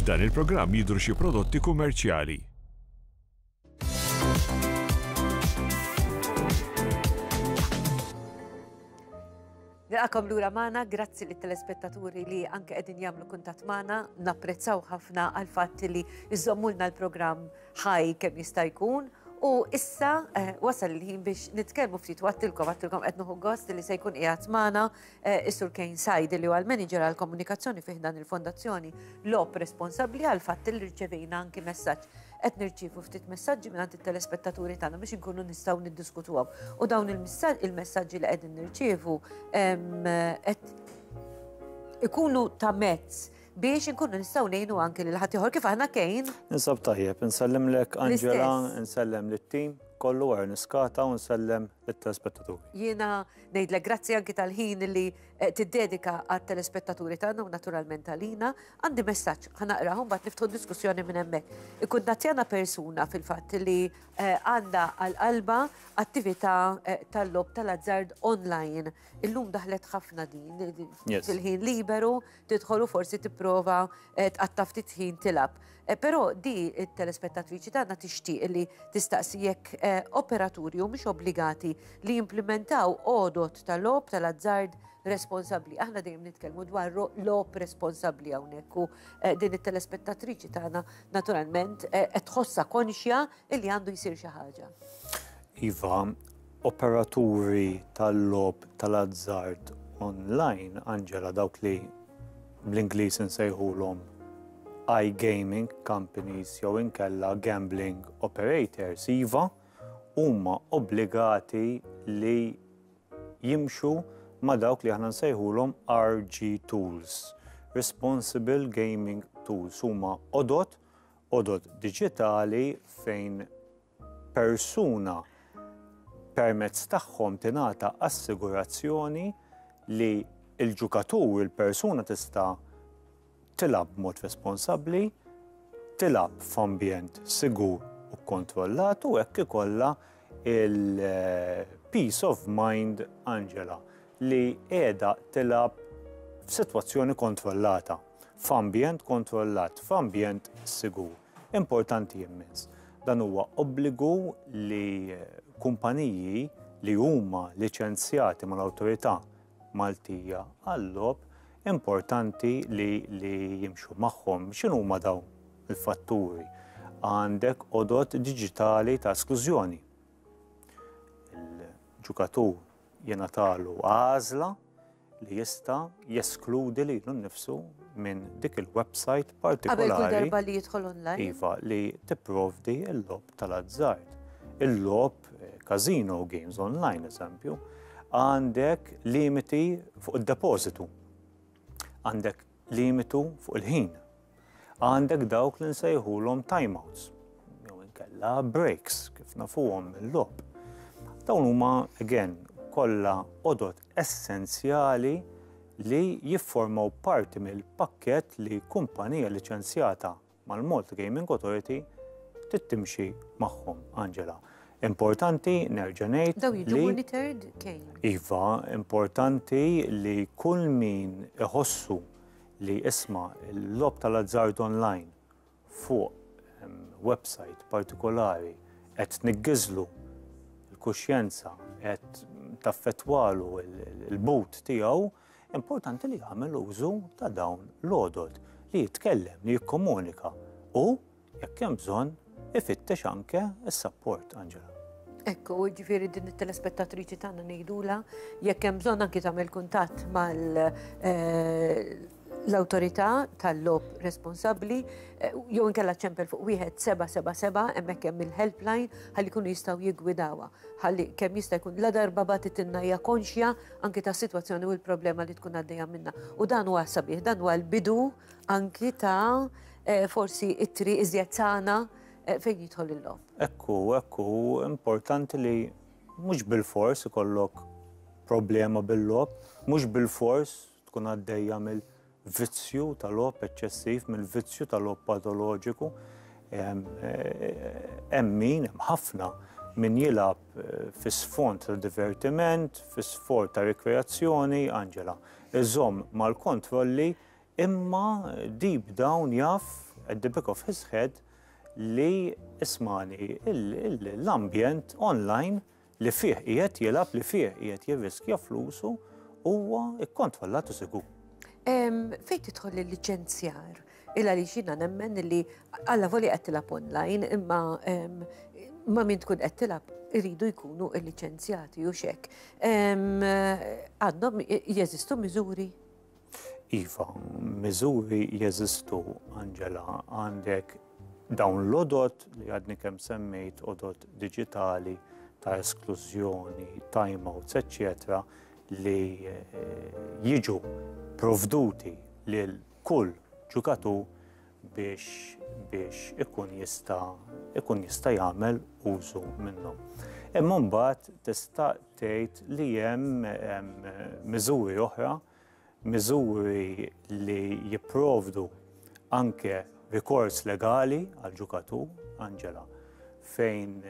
F'dan il-programm jidhru xi prodotti kummerċjali. Nilqakom lura magħna, grazzi lit telespettaturi li anke qegħdin jagħmlu kuntatt magħna, napprezzaw ħafna għal fatt li jżommulna l-programm ħaj kemm jista' jkun u issa eh, wasal il-ħin biex nitkellmu ftit għattilkom għattilkom qed noħu gost li se jkun qiegħed magħna eh, is-Sur Kane Sajd li huwa l-Manager għall komunikazzjoni fih dan il-Fondazzjoni Lop responsabbli għal fatt li rċevejna anki messaġġ qed nirċievu ftit messaġġi minn it-telespettaturi tagħna biex inkunu nistgħu niddiskutuhom. U dawn il-messaġġi li qegħdin nirċievu qed ikunu ta' mezz biex inkunu nistgħu ngħinu anki lil ħaddieħor kif aħna kejn. Ninsab tajjeb, insellimlek Angela, insellem lit-tim kollu għar niskata u nsellem it-telespettaturi. Jiena ngħidlek grazzi anki tal-ħin li eh, tiddedika għat-telespettaturi tagħna u naturalment tal-ħina, għandi messaġġ ħanaqraħu mbagħad niftħu diskussjoni minn hemmhekk. Ikun natjana persuna fil-fatt li eh, għandha għal qalba attività eh, tal-lob tal-azzard online. Illum daħlet ħafna din fil-ħin liberu, tidħol u forsi tipprova eh, tqatta' ftit ħin tilab. Eh, però di it-telespettatriċi tagħna tixtieq li tistaqsi jekk eh, operaturi u mhux obbligati li jimplementaw għodot tal-lob tal-azzard responsabli. Aħna dejjem nitkellmu dwar lob responsabli hawnhekk u din it-telespettatriċi tagħna naturalment qed tħossha konxja li għandu jsir xi ħaġa. Iva, Operaturi tal-logħob tal-azzard onlajn, Angela, dawk li bl-Ingliż insejħulhom iGaming companies jew inkella gambling operators, iva, huma obbligati li jimxu ma' dawk li aħna nsejħulhom RG tools, responsible gaming tools. Huma għodod, għodod diġitali fejn persuna permezz tagħhom tingħata assigurazzjoni li l-ġukatur, il-persuna tista' tilgħab b'mod responsabbli, tilgħab f'ambjent sigur u kkontrollat u hekk ikollha il-peace of mind Angela li qiegħda tilgħab f'sitwazzjoni kontrollata, f'ambjent kontrollat, f'ambjent sigur. Importanti immens. Dan huwa obbligu li kumpaniji li huma liċenzjati mal-Awtorità Maltija għal-Logħob importanti li, li jimxu magħhom. X'inhu huma dawn il-fatturi? Għandek odot diġitali ta' esklużjoni. Il-ġukatur jenatalu għażla li jista' jeskludi lilu nnifsu minn dik il-websajt partikolari. Qabel kull darba li jidħol online. Iva, li tipprovdi l-logħob tal-azzard. Il-logħob casino eh, games online, eżempju, għandek limiti fuq id-depożitu. Għandek limitu fuq il-ħin. Għandek dawk li nsejħulhom timeouts, jew inkella breaks, kif nafuhom mill-logħob. Dawn huma, again, kollha odot essenzjali li jifformaw parti mill-pakkett li kumpanija liċenzjata mal-Malta Gaming Authority trid timxi magħhom, Angela. Importanti nerġa' ngħid. Daw jiġu monitored kejn. Iva, importanti li kull min iħossu li isma' l-lob tal-azzard online fuq website partikolari qed niggiżlu l-kuxjenza qed taffettwalu l-but tiegħu Importanti li jagħmel użu ta' dawn l-għodod li jitkellem, li jikkomunika u jekk hemm bżonn ifittex anke s-sapport, Angela. Ekku, ġifiri din it-telespettatriċi tagħna ngħidula jekk hemm bżonn anki tagħmel kuntatt mal eh, l-autorità tal-lob responsabbli eh, jew inkella ċempel fuq wieħed 777 hemmhekk hemm il-helpline ħalli jkunu jistgħu jiggwidawha. Ħalli kemm jista' jkun la darba batitinna hija konxja anki tas-sitwazzjoni u l-problema li tkun għaddejja minnha. U dan huwa sabiħ, dan huwa l-bidu anki ta' eh, forsi it-triq iżjed sana eh, fejn jidħol il-lom. Ekku, ekku, importanti li mhux bil-fors ikollok problema bil-lob, mhux bil-fors tkun għaddejja mill vizzju ta' logħob eċċessiv mill-vizzju ta' logħob patoloġiku. Hemm min, hemm ħafna min jilgħab eh, fi sfond ta' divertiment, fi sfond ta' rekreazzjoni, Angela, iżom mal-kontrolli imma deep down jaf at the back of his head li ismani l-ambjent online li fih qiegħed jilgħab, li fih qiegħed jirriskja flusu, huwa kkontrollat u sigur. Fejn tidħol il-liċenzjar? Illa li xina nemmen li għalla voli qed tilab online imma ma min tkun qed tilab iridu jkunu liċenzjati u xek. Għandhom jeżistu miżuri? Iva, miżuri jeżistu, Angela, għandek dawn l-odot li għadni kemm semmejt, odot digitali ta' esklużjoni, timeouts, eccetera, li eh, jiġu provduti lil kull ġukatur biex biex ikun jista' ikun jista' jagħmel użu minnhom. Imma mbagħad tista' tgħid li hemm miżuri oħra, miżuri li jipprovdu anke rikors legali għal ġukatur, Angela, fejn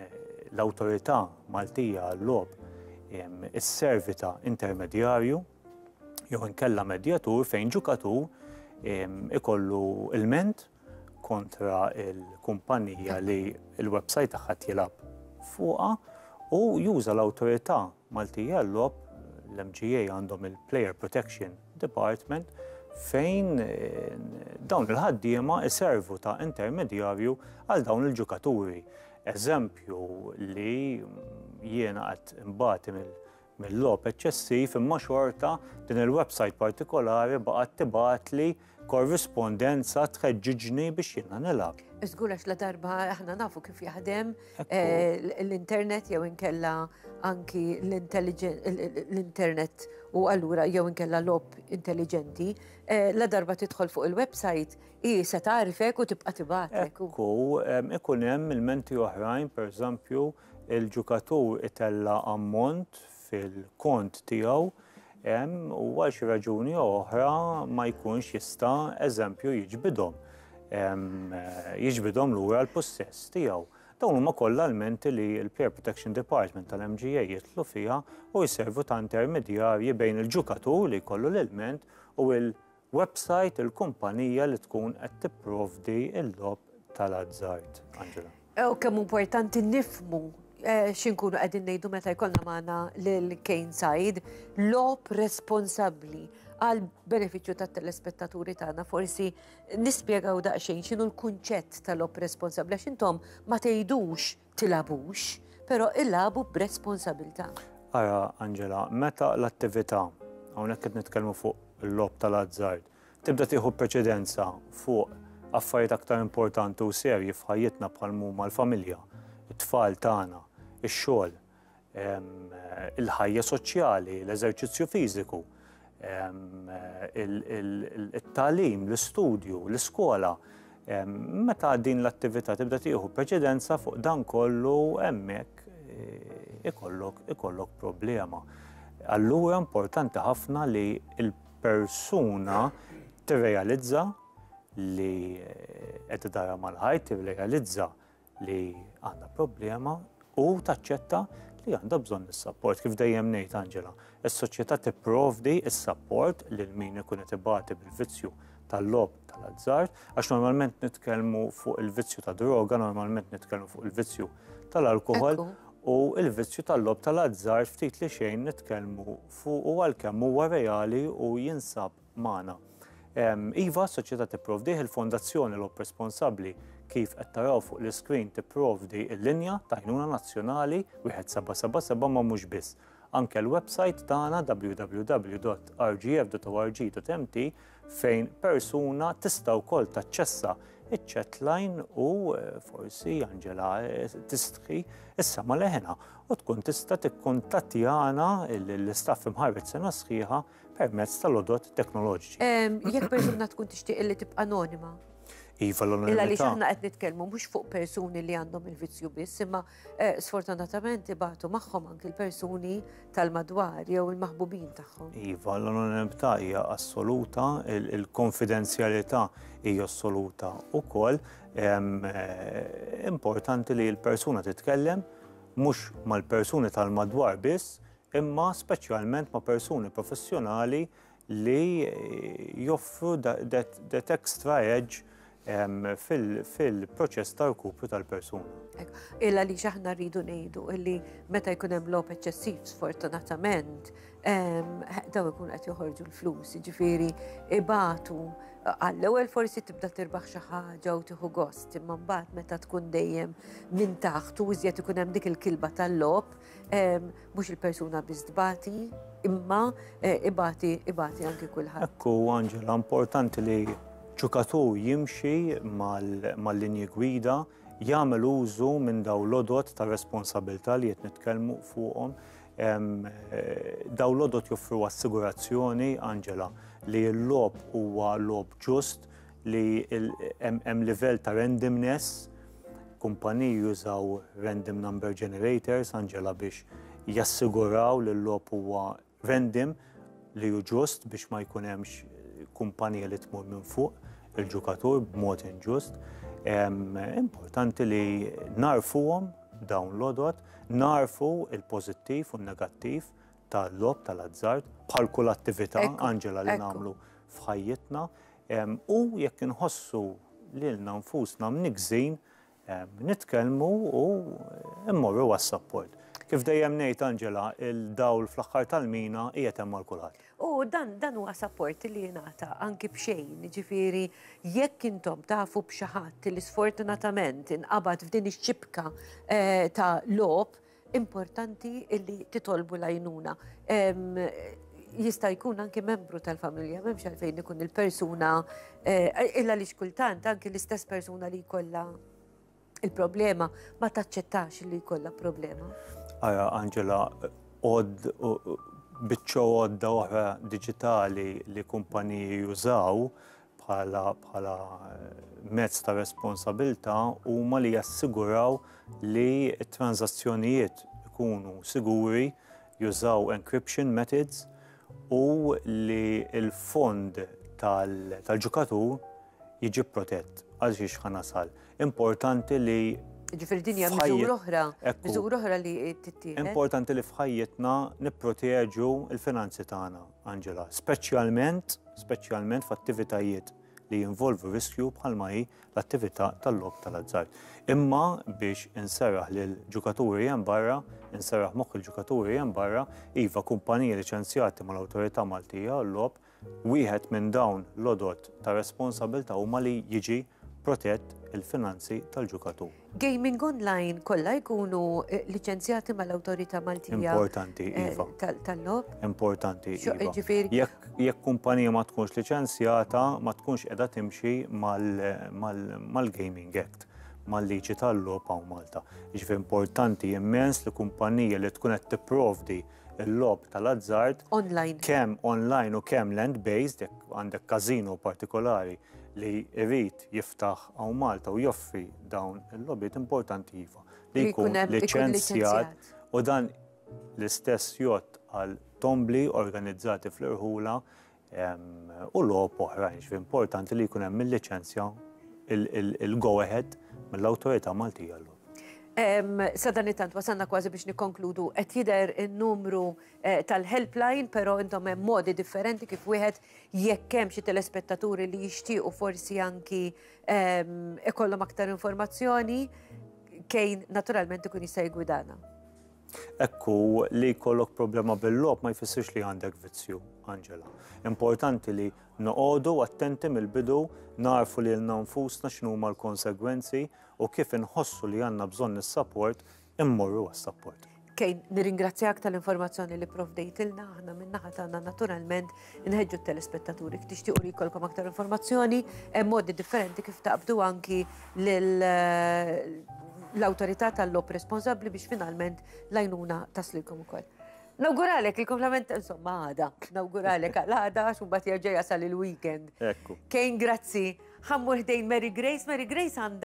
l-awtorità Maltija għall-lob is-servita intermedjarju jew inkella medjatur fejn ġukatur ikollu ilment kontra l-kumpanija li l-website tagħha jilgħab fuqha u juża l-Awtorità Maltija għal-Logħob, l-MGA għandhom il-Player Protection Department, fejn dawn il-ħaddiema iservu ta' intermedjarju għal dawn il-ġukaturi. Eżempju li jiena qed imbagħti mill- mill-logħob eċċessiv imma xorta din il-websajt partikolari baqgħet tibgħatli korrispondenza tħeġġiġni biex jiena nilgħab. Żgur għax la darba aħna nafu kif jaħdem eh, l-internet jew inkella anki l-internet u allura jew inkella lob intelligenti, eh, la darba tidħol fuq il-website i se tagħrifek u tibqa' tibgħatlek. Ku ikun hemm il-menti oħrajn, pereżempju, il-ġukatur itella' ammont fil-kont tiegħu hemm u għal xi raġuni jew oħra ma jkunx jista' eżempju jiġbidhom jiġbidhom lura l-pussess tiegħu. Dawn huma kollha l-menti li l-Player Protection Department tal-MGA jidħlu fiha u jservu ta' intermedjarji bejn il-ġukatur li jkollu l-ilment u l Websajt il-kumpanija li tkun qed tipprovdi l-logħob tal-azzard. Angela. U kemm importanti nifmu eh, xinkunu qegħdin ngħidu meta jkollna magħna lil Kane Said, lob responsabbli għal benefiċċju tat-telespettaturi tagħna forsi nispjegaw daqsxejn x'inhu l-kunċett tal-lob responsabbli għax intom ma tgħidux tilagħbux, però ilagħbu b'responsabilità. Ara, Angela, meta l-attività, hawnhekk qed nitkellmu fuq il-logħob tal-azzard, tibda tieħu preċedenza fuq affarijiet aktar importanti u serji f'ħajjitna bħal huma l-familja, it-tfal tagħna, ix-xogħol, il-ħajja soċjali, l-eżerċizzju fiżiku, il-talim, l-istudju, l-iskola. Meta din l-attività tibda tieħu preċedenza fuq dan kollu hemmhekk eh, ikollok problema. Allura importanti ħafna li l-persuna tirrealizza li eh, qed dara mal-ħajt, tirrealizza li għandha problema u taċċetta li għandha bżonn is-sapport. Kif dejjem ngħid Angela, is-soċjetà tipprovdi s-sapport lil min ikun qed ibati bil-vizzju tal-lob tal-azzard, għax normalment nitkellmu fuq il-vizzju ta' droga, normalment nitkellmu fuq il-vizzju tal-alkohol u il-vizzju tal-lob tal-azzard ftit li xejn nitkellmu fuq u għalkemm huwa reali u jinsab magħna. Iva, s-soċjetà tipprovdih, il-Fondazzjoni Logħob Responsabbli kif qed taraw fuq l-iscreen tipprovdi l-linja ta' għajnuna nazzjonali 1777 ma mhux biss. Anke l-website tagħna www.rgf.org.mt fejn persuna tista' wkoll taċċessa iċ-chatline u eh, forsi Angela eh, tistħi issa ma leħena u tkun tista' tikkuntattjana l-istaff imħarret sena sħiħa permezz tal-odot teknoloġiċi. Jekk persuna tkun tixtieq li tibqa' anonima. Iva l-anonimità. Illa li xaħna qed nitkellmu mhux fuq persuni li għandhom il-vizzju biss, imma eh, sfortunatament ibatu magħhom anki l-persuni tal-madwar jew il-maħbubin tagħhom. Iva l-anonimità hija assoluta, il-konfidenzjalità hija assoluta ukoll eh, importanti li l-persuna titkellem mhux mal-persuni tal-madwar biss, imma speċjalment ma' persuni professjonali li joffru that extra edge fil-proċess ta' rkupru tal-persuna. Illa li xaħna rridu nejdu illi meta jkun hemm lop eċċessiv sfortunatament daw ikun qed joħorġu l-flus, ġifieri ibatu għall-ewwel forsi tibda tirbaħ xi ħaġa u tieħu gost, imma mbagħad meta tkun dejjem minn taħt u iżjed ikun hemm dik il-kilba tal-lob, Mhux il-persuna biss tbati, imma eh, ibati ibati anki kulħadd. Ekku Angela, importanti li ġukatur jimxi mal-linji gwida jagħmel użu minn daw l-odot ta' responsabilità li qed nitkellmu fuqhom. Eh, daw l-odot joffru assigurazzjoni, Angela, li l-lob huwa lob ġust, li hemm livell ta' randomness, kumpaniji jużaw random number generators, Angela, biex jassiguraw li l-lop huwa random li hu ġust biex ma jkun hemmx kumpanija li tmur minn fuq il-ġukatur b'mod inġust. Importanti li narfuhom dawn l-odot, narfu il-pożittiv u n-negattiv tal-lob tal-azzard bħal kull attività Angela li nagħmlu f'ħajjitna. U jekk inħossu lilna nfusna mnikżin, nitkellmu u mmorru għas-sapport. Kif dejjem ngħid Angela, il-dawl fl-aħħar tal-mina qiegħed hemm għal kulħadd. U dan dan huwa sapport li jingħata anki b'xejn, jiġifieri jekk intom tafu b'xi ħadd li sfortunatament inqabad f'din ix-xibka ta' logħob, importanti illi titolbu lajnuna. Jista' jkun anki membru tal-familja, memx għalfejn ikun il-persuna, eh, illa li xkultant anki l-istess persuna li jkollha il-problema ma taċċettax li jkollha problema. Aja, Angela, od biċċo għodda oħra digitali li kumpaniji jużaw bħala mezz ta' responsabilità huma li jassiguraw li t-tranżazzjonijiet ikunu siguri, jużaw encryption methods u li l-fond tal-ġukatur jiġi protett. Għal xiex ħa nasal? Importanti li Jiġifieri din hija miżura oħra, miżura oħra li tittieħed. Importanti li f'ħajjitna nipproteġu l-finanzi tagħna. Angela, speċjalment, speċjalment f'attivitajiet li jinvolvu riskju bħalma hi l-attività tal-lob tal-azzar. Imma biex inserraħ lil ġukaturi hemm barra, inserraħ moħħ il-ġukaturi hemm barra, iva kumpaniji liċenzjati mal-Awtorità Maltija l-lob, wieħed minn dawn l-odot ta' responsabilta huma li jiġi protett il-finanzi tal-ġukatur. gaming online kollha jkunu liċenzjati mal-Awtorità Maltija tal-Logħob? Importanti, iva. Jekk kumpanija ma tkunx liċenzjata, ma tkunx qiegħda timxi mal-Gaming Act, mal-liġi tal-logħob hawn Malta. Jiġifieri importanti immens li kumpanija li tkun qed tipprovdi l-logħob tal-azzard kemm online u kemm land-based, jekk għandek każino partikolari li jrid jiftaħ hawn Malta u joffri dawn il-logħbiet importanti iva li jkun liċenzjat u dan l-istess jgħodd għal tombli organizzati fl-irħula u logħob oħrajn ġifieri importanti li jkun hemm il-liċenzja il-go ahead mill-Awtorità Maltija l Sadan it-tant wasanna kważi biex nikkonkludu qed jidher in-numru eh, tal-helpline, però intom hemm modi differenti kif wieħed jekk hemm xi telespettaturi li jixtiequ forsi anki ehm, ikollhom aktar informazzjoni kejn naturalment ikun jista' jgwidana. Ekku li jkollok problema bil-lob ma jfissirx li għandek vizzju, Angela. Importanti li noqogħdu attenti mill-bidu narfu li l-nanfusna x'numa l-konsegwenzi u kif inħossu li għandna bżonn is-support immorru għas-sapport. Kejn, nirringrazzjak tal-informazzjoni li provdejtilna aħna min-naħa tagħna naturalment inħeġġu t-telespettaturi tixtiequ li jkollkom aktar informazzjoni hemm modi differenti kif taqbdu anki eh, l-awtorità tal-lop responsabbli biex finalment lajnuna taslilkom ukoll. Nawguralek il-komplement, insomma, għada. Nawguralek għada, għax un bat jasal il-weekend. Ekku. Kejn, grazzi. Ħammur ħdejn Mary Grace. Mary Grace għanda